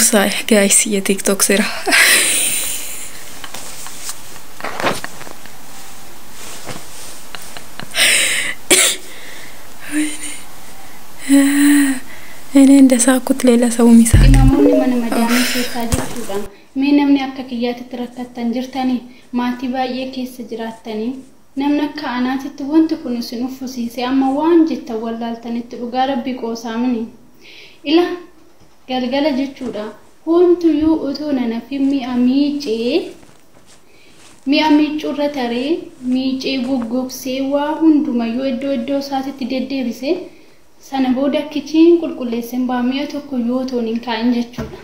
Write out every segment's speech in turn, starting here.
Saay guys ya tiktok sira. Ini inda sakut lela saumi sakit. Namoonni mana madaamii keessaa jechuudha. Mee namni akka kiyyaatitti rakkattan jirtanii maatii baay'ee keessa jiraattanii namni akka anaatitti wanti kun isin uffisiise amma waan jettan wallaaltanitti dhugaa rabbii qoosaamini. Ila galgala jechuudha. Hoomtuyyuu utuu nan hafin mi'a miicee, mi'a miiccuurra taree, miicee, goggogsee, waa hundumayyuu iddoo iddoo isaatitti deddeebise, sana booda kichiin qulqulleesseen ba'a, mi'a tokkoyyuu otoon hin kaa'in jechuudha.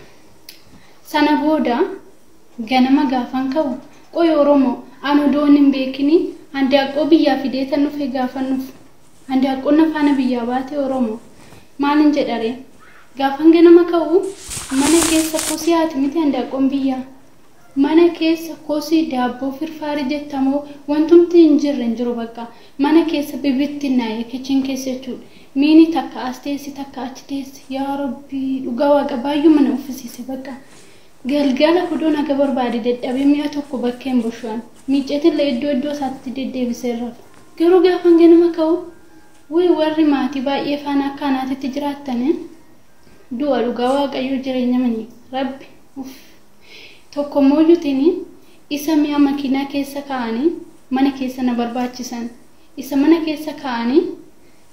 Sana booda ganama gaafan ka'u, qoy Oromoo, an odoon hin beekinii handaaqqoo biyyaa fideetan dhufe gaafan dhufu. Handaaqqoon afaana biyyaa baate Oromo. Maalin jedharee? Gaafan ganama ka'u mana keessa kosii haati miti handaaqqoon biyyaa? Mana keessa kosii daabboo firfaarii jetta moo wantumti hin jirre hin jiru baqqa. Mana keessa bibittinnaa'e kitchen keessa jechuudha. Miini takka as teessi takka achi teessi. Yaa rabbii dhugaa waaqa baayyuma na uffisiise baqqa. Galgala hudoo naga barbaade dadhabee mi'a tokko bakkeen bushu'an. Miicceetille iddoo iddoo isaatti deddeebiseen rafa. Garuu gaafan ganama ka'u Wly warri maatii baay'ee faana akka anaatitti jiraattani du'a dhugaa waaqayyoo jireenyamani rabbi uff tokkommooyyutini isa mi'a makiinaa keessa kaa'ani mana keessa na barbaachisan isa mana keessa kaa'ani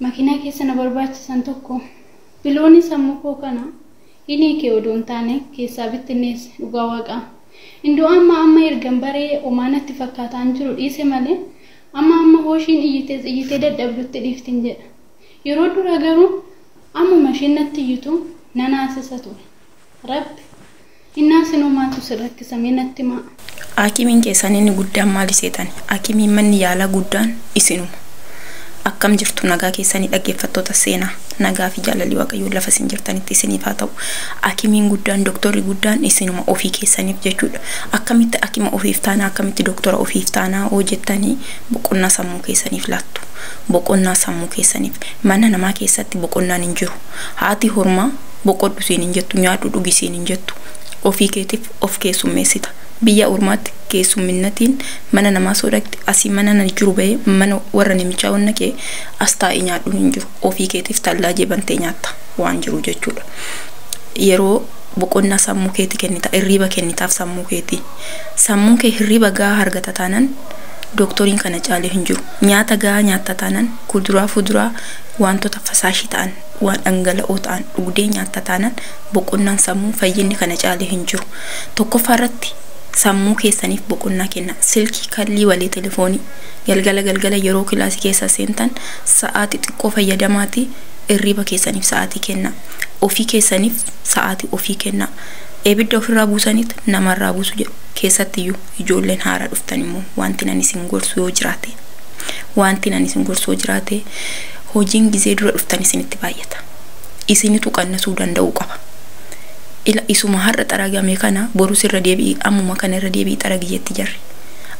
makiinaa keessa na barbaachisan tokko bilooni sammuu koo kana hin hiike odoo hin taane keessaa bittinneesse dhugaa waaqaa hin du'aamma amma ergan baree omaa natti fakkaataan jiru dhiise malee Amma hamma Hooshiin iyyitees iyyitee dadhabdutti dhiiftin jedha. Yeroo duraa garuu ammuma isheen natti iyyitu nan haasisa ture. Rabbi, Hin haasinuu maaltu si rakkisa mee natti himaa? Haakimiin keessan inni guddaan maali seetani? Haakimiin manni yaalaa guddaan isinuma. Akkam jirtu nagaa keessanii dhaggeeffattoota seenaa. Nagaa fi jaalalli Waaqayyoo lafa isin jirtanitti isiniif haa ta'u. Haakimiin guddaan, doktorri guddaan isinuma ofii keessaniif jechuudha. Akkamitti akima ofiif taana akkamitti doktora ofiif taana hoo jettani boqonnaa sammuu keessaniif laattu. Boqonnaa sammuu keessaniif. Mana namaa keessatti boqonnaan hin jiru. Haati hormaa boqodhu siin hin jettu nyaadhu dhugi siin hin jettu. Ofii keetif of keessummeessita. Biyya ormaatti keessumminnatiin mana namaa soo dhaqxi asii mana nani jiru bahee mana warra nimichaa wanna kee as taa'ii nyaadhun hin jiru. Ofii keetif tallaajee bantee nyaatta waan jiru jechuudha. Yeroo boqonnaa sammuu keeti kennita irriiba kennitaaf sammuu keeti sammuun kee hirriiba gahaa hargata taanan doktoriin kana caalee hin jiru nyaata gahaa nyaatta taanan kuduraa fuduraa waantota fasaashii ta'an waan dhangala'oo ta'an dhugdee nyaatta taanan boqonnaan sammuu fayyinni kana caalee hin jiru tokkoffaa irratti sammuu keessaniif boqonnaa kenna silkii kallii walee telefoonii galgala galgala yeroo kilaasii keessa seentan sa'aati xiqqoo fayyadamaati irriiba keessaniif sa'aatii kenna Ofii keessaniif sa'aatii ofii kennaa. Ebidda ofirraa buusaniit namarraa buusu jedhu. Keessattiyyuu ijoolleen haaraa dhuftan immoo wantin ani isin gorsu yoo jiraate wantin ani isin gorsu yoo jiraate hojiin gizee dura dhuftan isinitti baay'ata. Isinitu qannasuu danda'uu qaba. Ila isuma har'a xaragame kana borus irra deebi'i ammuma kana irra deebi'i xaragi jetti jarri.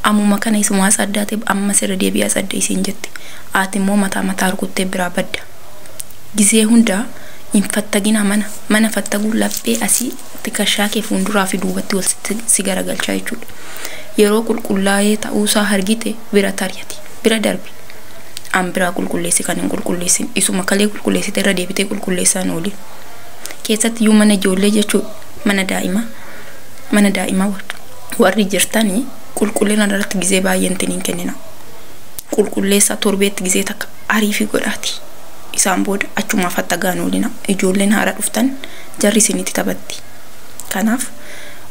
Ammuma kana isuma as addaate ammas irra deebi'i as adda isiin jetti. Ati immoo mataa mataa rukuttee biraa badda. Gizee hunda hin fattaginaa mana. Mana fattaguun laphee asii tikashaa kee fuunduraa fi duubatti wal si garagalchaa jechuudha. Yeroo qulqullaa'ee ta'uusaa argite bira tari'ati. Bira darbi. An biraa qulqulleessi kan hin qulqulleessin. Isuma kalee qulqulleessite irra deebitee qulqulleessaan ooli. Keessatti iyyuu mana ijoollee jechuu mana daa'imaa mana daa'imaa warri jirtanii qulqullina irratti gizee baay'een hin kennina. Qulqulleessaa torbeetti gizee takka Ariifii godhaatii isaan booda achumaa faxxagaa hin oolinaa. Ijoolleen haaraa dhuftan jarri isinitti taphatti. Kanaaf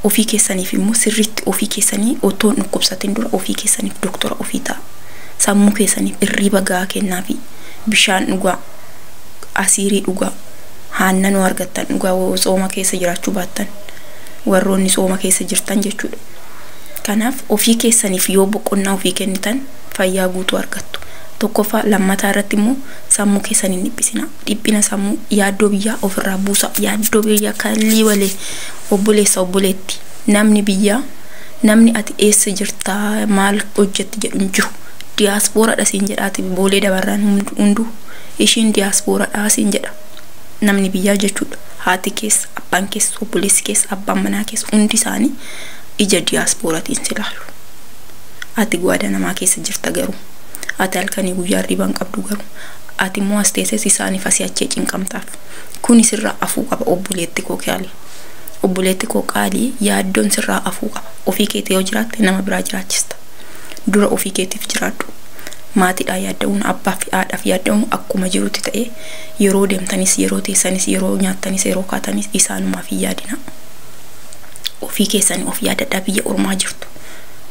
ofii keessaniif immoo sirriitti ofii keessanii otoo hin dhukkubsatin dura ofii keessaniif doktora ofii ta'aa. Sammuu keessaniif irriiba gahaa kennaafii. Bishaan dhugaa. Asiirii dhugaa. Haannanoo argattan dhugaa woo tsooma keessa jiraachuu baattan. Warroonni tsooma keessa jirtan jechuudha. Kanaaf ofii keessaniif yoo boqonnaa ofii kennitan fayyaa guutuu argattu. Tokkoffaa lammataa irratti immoo sammuu keessan hin dhiphisinaa. Dhiphina sammuu yaaddoo biyyaa ofirraa buusa. Yaaddoo biyyaa kallii walee obboleessa obboleetti namni biyyaa namni ati eessa jirta maal hojjetti jedhu hin jiru. Diyaaspooradha siin jedhaati boolee dabarraan hunduu ishiin diyaaspooradha siin jedha. Namni biyyaa jechuudha. Haati keessa, abbaan keessa, obboleessi keessa, abbaan manaa keessa hundi isaanii ija diyaaspooratiin si ilaalu. Ati guada namaa keessa jirta garuu. Ati halkanii guyyaa hirriba hin qabdu garuu. Ati immoo as teeses isaanif asii achee cinqamtaaf. Kuni sirraa afuu qaba obboleetti koo kiali. Obboleetti koo qaalii yaaddoon sirraa afuu qaba. Ofii keeti yoo jiraatte nama biraa jiraachista. Dura ofii keetif jiraadhu. Maatidhaa yaadda'uun abbaa fi haadhaf yaadda'uun akkuma jirutti ta'ee yeroo deemtanis yeroo teessanis yeroo nyaattanis yeroo kaatanis isaanumaf hin yaadinaa. Ofii keessani of yaadadhaa biyya ormaa jirtu.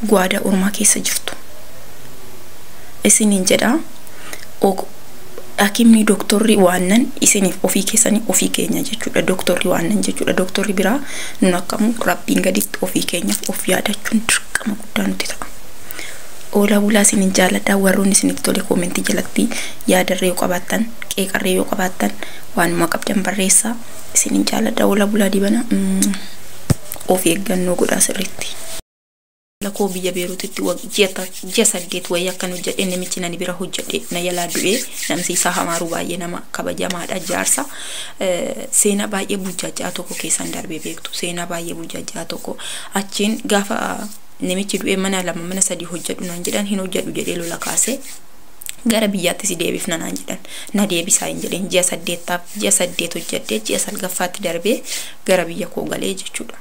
guaada ormaa keessa jirtu isinin jedha ok dhakimni doktorri waannan isinif ofii keessani ofii keenya jechuudha doktorri waannan jechuudha doktorri biraa nun akkamu rabbiin gaditti ofii keenyaf of yaadachuun dirqama guddaa nuti ta'a Oolaa bulaa isinin jaaladha warroonni isinitti tole koomentii jalatti yaadarree yoo qabaattan qeeqarree yoo qabaattan waanuma qabdan barreessaa isinin jaaladha Oolaa bulaa dibana of eeggannoo godhaa sirriitti. Haadha koo biyya Beerutitti ji'a saddeet wayii akkan hojjadheen namichi nani bira hojjadhe na jalaa du'ee namsi isaa hamaaruu baay'ee nama kabajamaadha jaarsa seenaa baay'ee burjaajja'aa tokko keessan darbee beektu seenaa baay'ee burjaajja'aa tokko achiin gaafa namichi du'ee mana lama mana sadii hojjadhu naan jedhan hin hojjadhu jedhee lola kaasee gara biyyaatti si deebifna naan jedhan na deebisaa hin jedheen ji'a saddeettaaf ji'a saddeet hojjedhee ji'a salgaffaatti darbee gara biyya koo galee jechuudha.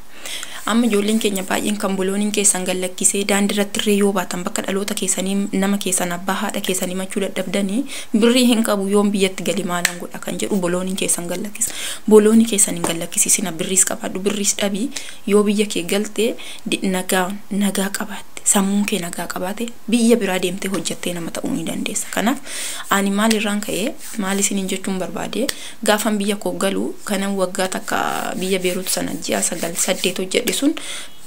Amma ijoolleen keenya baay'een kan bulooniin keessan gallakkisee daandii irratti irree yoo baatan bakka dhaloota keessanii nama keessan abbaa haadha keessan himachuu dadhabdanii birrii hin qabu yoon biyyatti gali maalan godha kan jedhu bulooniin keessan gallakkisa. Buloonii keessan hin gallakkisiisina birriis qabaadhu birriis dhabii yoo biyya kee galtee nagaa nagaa qabaatte sammuun kee nagaa qabaate biyya biraa deemtee hojjettee nama ta'uu ni dandeessa kanaaf ani maal irraan ka'ee maal isiniin jechuun barbaade gaafan biyya koo galu kanan waggaa takka biyya beeruutu sana ji'a sagal saddeet hojjedhe sun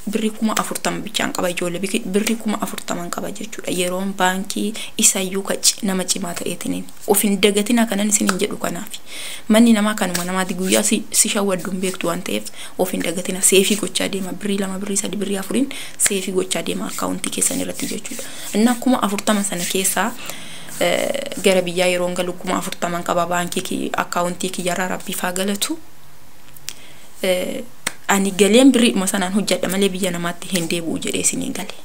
birrii kuma afurtama bichaan qaba ijoollee biki- birrii kuma afurtaman qaba jechuudha yeroon baankii isayyuu ka ci- nama cimaa ta'eetiniin Of hin dagatinaa kanan isinin jedhu kanaafi. Manni namaa kanuma namaati guyyaa si si shawwaddu hin beektu waan ta'eef of hin dagatinaa seefii gochaa deema birrii lama birrii sadi birrii afuriin seefii gochaa deema akkaawuntii keessan irratti jechuudha. Innaa kuma afurtama sana keessaa eh, gara biyyaa yeroon galu kuma afurtaman qaba baankii ki- akkaawuntii kiyyarraa rabbiif haa galatu. Eh, Ani galeen birriidhuma sanaan hojjedha malee biyya namaatti hin deebi'u jedhee isiniin gale.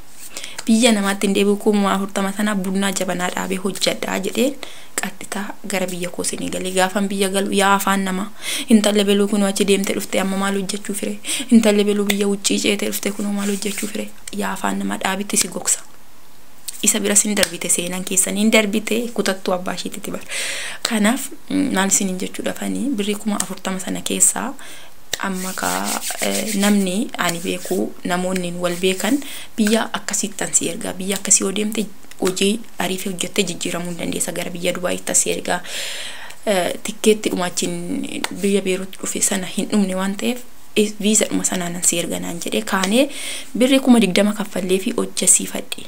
biyya namaatti hin deebi'u kuma afurtama sana bunnaa jabanaa dhaabee hojjadhaa jedheen qadhitaa gara biyya koo seenee galee gaafan biyya galu yaa afaan namaa intalli beluu kunoo achi deemte dhufte amma maal hojjechuu fire intalli beluu biyya uccii ceete dhufte kunoo maal hojjechuu fire yaa afaan namaa dhaabitti si gogsa isa bira sin darbite seenan keessan hin darbite kutattuu abbaa ishiitti bar kanaaf maal isin hin jechuudha fanii birrii kuma afurtama sana keessaa Amma kaa namni ani beeku namoonnin wal beekan biyya akkasiittan si ergaa biyya akkasii yoo deemte hojii ariifii hojjettee jijjiiramuu hin dandeessa gara biyya Dubaayiittan si ergaa Eh, tikkeetti dhuma achiin biyya Beerut dhufe sana hin dhumne waan ta'eef eh, viiza dhuma sanaanan si erga naan jedhee kaanee birrii kuma digdama kaffallee fi hojjesiifadhe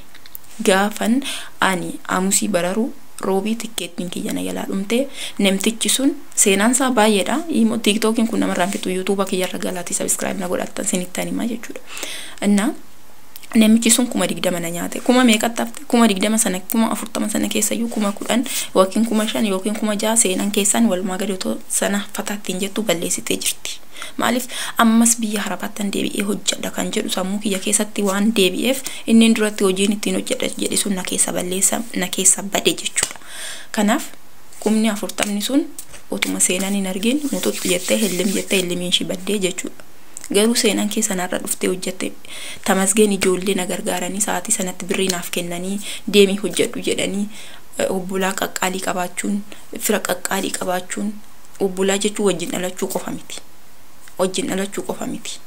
gaafan ani aamusii bararu Roobii tikkeettiin kiyya na jalaa dhumte. Namtichi sun seenaan isaa baay'eedha. Imo TikTokiin kun namarraa hin fixu. YouTube kiyya irra galaatii subscribe na godhattan sinittan himaa jechuudha. Innaa namichi sun kuma digdama na nyaate. Kuma meeqatti hafte? Kuma digdama sana kuma afurtama sana keessa iyyuu kuma kudhan yookiin kuma shan yookiin kuma ja'a seenan keessan walumaa gadi otoo sana fataatti hin jettu balleessitee jirti. Maaliif ammas biyya harabaattan deebi'ee hojjedha kan jedhu sammuu kiyya keessatti waan deebi'eef inniin duratti hojiin ittiin hojjedha jedhe sun na keessa balleessa na keessa bade jechuudha. Kanaaf kumni afurtamni sun otuma seenan hin argin muxuxxi jettee hillim jettee hillimiin ishii baddee jechuudha. Garuu seenan kee sanarra dhuftee hojjette tamasgeen ijoollee na gargaaranii sa'aatii sanatti birrii naaf kennanii deemii hojjedhu jedhanii obbolaa qaqqaalii qabaachuun fira qaqqaalii qabaachuun Obbolaa jechuun wajjin dhalachuu qofa miti. Wajjin dhalachuu qofa miti.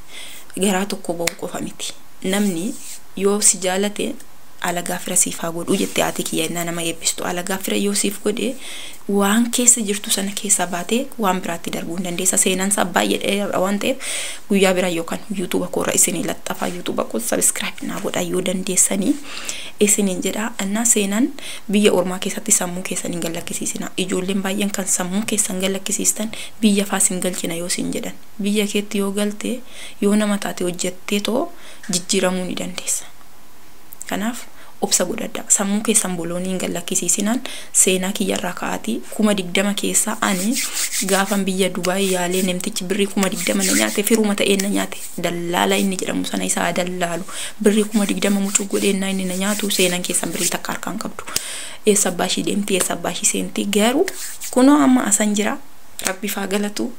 Garaa tokko ba'uu qofa miti. Namni yoo si jaalate alagaa fira siif haa godhuu jette haati kiyya innaa nama eebbistu. Alagaa fira yoo siif godhe waan keessa jirtu sana keessaa baatee waan biraatti darbuu hin dandeessa. Seenaan isaa baay'ee dheeraadha waan ta'eef guyyaa biraa yookaan yuutuuba koorra isinii laxxafaa yuutuuba koo sabiskiraayib naa godhaa yoo dandeessanii. isiniin jedha, ennaa seenan biyya ormaa keessatti sammuu keessan hin gallakkisiisinaa. Ijoolleen baay'een kan sammuu keessan gallakkisiistan biyya faa isin galchina yoo siin jedhan. Biyya keetti yoo galte, yoo nama taate hojjetteetoo jijjiiramuu ni dandeessa. Kanaaf obsa godhadhaa. Sammuu keessan boloonii hin gallakkisiisinaan seenaa kiyya irraa ka'aatii 20,000 keessaa ani gaafan biyya Dubaay yaalee nemtichi birrii 20,000 na nyaate firuma ta'een na nyaate. dallaala inni jedhamu sana isa haa dallaalu birrii kuma digdama mucuu godhee innaa inni na nyaatu seenan keessan birrii takka harkaa hin qabdu eessa abbaa ishii deemti eessa abbaa ishii seenti garuu kunoo amma asan jira rabbiif haa galatu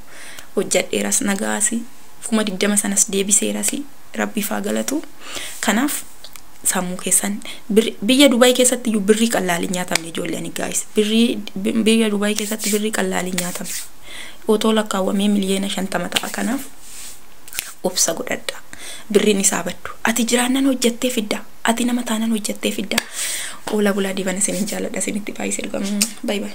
hojjadheeras nagaasi kuma digdama sanas deebiseerasi rabbiif haa galatu kanaaf sammuu keessan birri- biyya Dubaay keessatti iyyuu birrii qallaali hin nyaatamne ijoollee ani gaayis birrii bi- biyya Dubaay keessatti birrii qallaali hin nyaatamne otoo lakkaawwamee miliyoona shantama ta'a kanaaf Obsa godhadhaa. Birriin isaa baddu. Ati jiraannan hojjattee fidda. Ati nama taanan hojjattee fidda. Oola bulaa diiban isinin jaaladha isinitti baay'isee dhugaa. Bye bye.